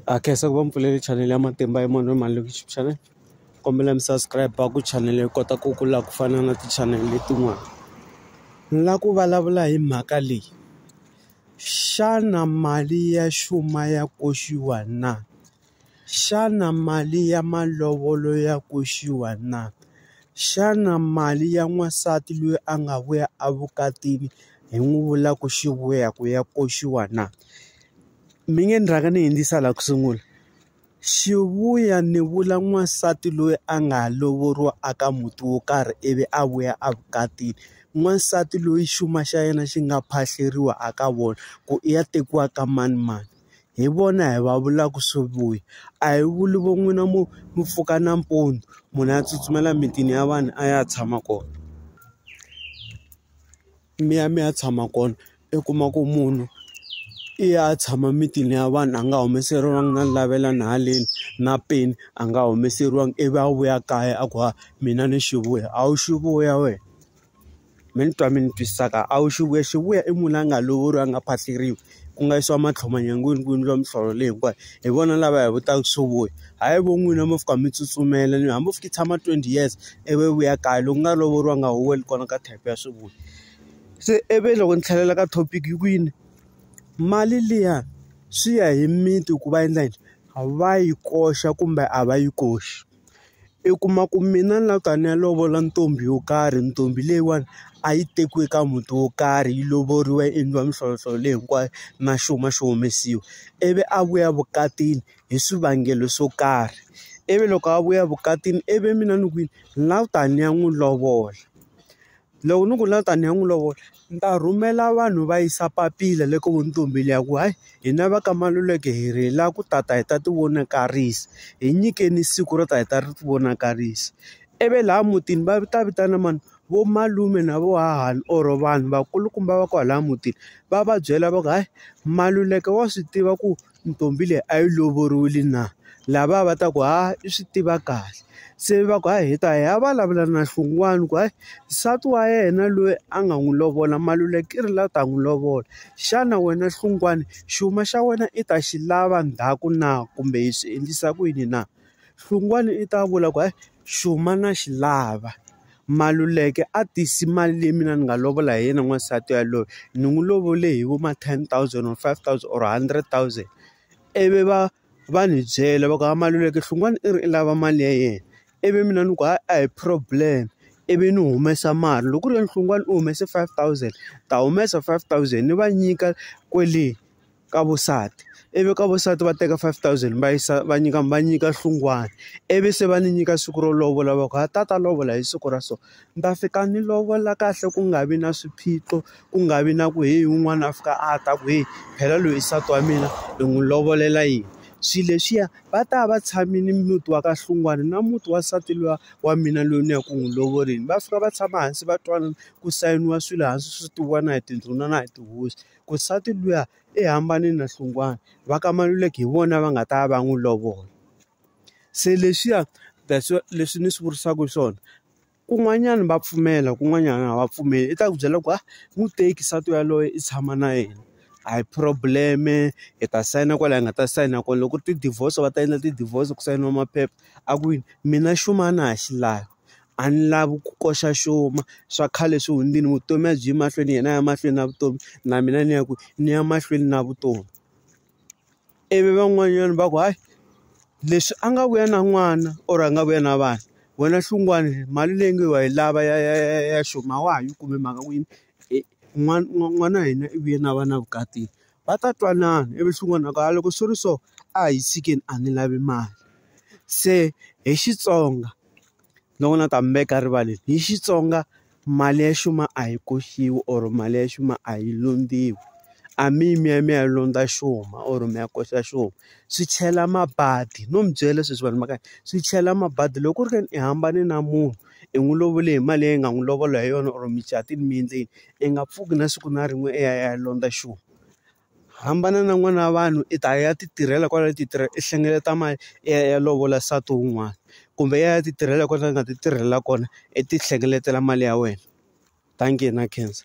ha khensa ku va mi pfulele chanele ya matimba ya munhu mali loko youtube channel kombela mi subscribe ku chanele yi kota ku kula ku fana na tichanele letin'wana ni la ku vulavula hi mhaka leyi xana mali ya xuma ya koxiwa na xana mali ya malovolo ya koxiwa na xana mali ya n'wansati loyi a nga vuya evukatini hi n'wi vula ku xi vuya ku ya koxiwa na Mi nge ni rhanga ni hindzisa laha ku sungula. Xivuya ni vula n'wansati loyi a nga lovoriwa a ka muti wo karhi ivi a vuya a vukatile. N'wansati loyi xuma xa yena xi nga phahleriwa a ka vona, ku i ya tekiwa ka manimani. Hi vona hi va vulaka swivuya. A hi vuli vo n'wina mi mi pfuka nampundzu, munhu a tsutsumela emitini ya vanhu a ya tshama kona. Mi ya mi ya tshama kona. i kuma ku munhu i ya tshama mitini ya vanhu a nga humeseriwangi na lavela na haleni na peni a nga humeseriwangi ivi a vuya kaya a ku ha mina ni xi vuya a wu xi vuya wena mi ni twa mi ni twisisa kahle a wu xi vuya xi vuya i munhu la nga lovoriwa a nga phahleriwa ku nga yisiwa matlhoma nyangweni ku endliwa mihlolo leyi hinkwayo hi vona lava hi vutaka swo vuya hayi vo n'wina mo fika mi tsutsumela ni hambi u fike i tshama twenty years ivi u vuya kaya loko u nga lovoriwanga a wu weli kona ka type ya swi vula. Se ivi loko ni tlhelela ka topic yi ku yini mali liya swi ya hi miti ku va endla yini a va yi koxa kumbe a va yi koxi i kuma ku mina ni la ku ta ni ya lovola ntombi yo karhi ntombi leyiwani a yi tekiwe ka muti wo karhi yi lovoriwa yi endliwa mihlovohlovo leyi hinkwayo na xuma xi humesiwa ivi a vuya vukatini hi swivangelo swo karhi ivi loko a vuya vukatini ivi mina ni ku yini ni la ku ta ni ya n'wi lovola. Loko ni ku na tani hi n'wi lovola ni ta rhumela vanhu va yisa papila le ka vo ntombini ya ku hayi hina va ka Maluleke hi ri hi lava ku ta ta hi ta ti vonakarisa hi nyikeni siku ro ta hi ta ri ti vonakarisa ivi laha mutini va ta vitana mani vo malume na vo hahani or vanhu vakulukumba va kwalaya mutini va va byela va ku hayi Maluleke wa swi tiva ku ntombi leyi a yi lovoriwile na lava va ta ku ha i swi tiva kahle se va ku ha hi ta hi ya vulavula na Hlungwani ku hayi nsati wa yena loyi a nga n'wi lovola Maluleke i ri la ta n'wi lovola xana wena Hlungwani xuma xa wena i ta xi lava ndzhaku na kumbe hi swi endlisa ku yini na. Hlungwani i ta vula ku hayi xuma na xi lava Maluleke a tisi mali leyi mina ni nga lovola hi yena n'wansati yaloye ni n'wi lovole hi vo ma ten thousand or five thousand or hundred thousand ivi va va ni byela va ku hayi Maluleke Hlungwani i ri i lava mali ya yena ivi mina ni ku hayi a hi problem ivi ni humesa mali loko ku ri yena Hlungwani u humese five thousand ni ta humesa five thousand ni va nyika kwele. ka vusati ivi ka vusati va teka five thousand va yisa va nyika va nyika hlungwana ivi se va ni nyika siku ro lovola va ku ha tata lovola hi siku ra so ni ta fika ni lovola kahle ku nga vi na swiphiqo ku nga vi na ku heyi un'wana a fika a ta ku heyi phela loyi nsati wa mina hi n'wi lovolela yini swilo leswiya va ta va tshamile muti wa ka hlungwana na muti wa nsati luya wa mina loyi ni ya ku n'wi lovorile va fika va tshama hansi va twanana ku sayiniwa swilo hansi swi tiviwa na hi tindhuna na hi tihosi. Ku nsati luya i hambane na Hlungwana va ka Maluleke hi vona va nga ta va n'wi lovola se leswiya that's why leswi ni swi vurisaka swona kun'wanyana va pfumela kun'wanyana a va pfumeli i ta ku byela ku a n'wi teki nsati yaloye i tshama na yena a hi problem-e hi ta sayina kwala hi nga ta sayina kona loko ku ri ti-divorce va ta endla ti-divorce ku sayiniwa maphepha a ku yini mina xuma a na ha xi lavi. a ni lavi ku koxa xuma swa khale swi hundzile vutomi a byi yi mahlweni yena a ya mahlweni na vutomi na mina ni ya ku ni ya mahlweni na vutomi ivi van'wanyana va ku hayi leswi a nga vuya na n'wana or a nga vuya na vana wena hlungwani mali leyi nge wa yi lava ya ya ya ya xuma a wa ha yi kumi hi mhaka ku yini n'wana n'wana wa hina i vuye na vana vukatini va ta twanana ivi swin'wana na ku a loko swi ri so a hi tshikeni a ni lavi mali se hi Xitsonga. ni vona ta mi veka rivaleni hi Xitsonga mali ya xuma a yi koxiwi or mali ya xuma a yi lombiwi a mi yi mi ya mi ya lomba xuma or mi ya koxa xona swi chela mabadi no mi byela sweswi vanhu va ka swi chela mabadi loko ku ri ka ni i hambane na munhu i n'wi lovole hi mali leyi nga n'wi lovola hi yona or mucatu mi endle yini i nga pfuki na siku na rin'we i ya i ya lomba xuma. Hambana na n'wana wa vanhu i ta ya ti tirhela kwala ti tirha i hlengeleta mali i ya i ya lovola nsati wun'wana kumbe i ya i ya ti tirhela kwala i nga ti tirhela kona i ti hlengeletela mali ya wena dankie na khensa.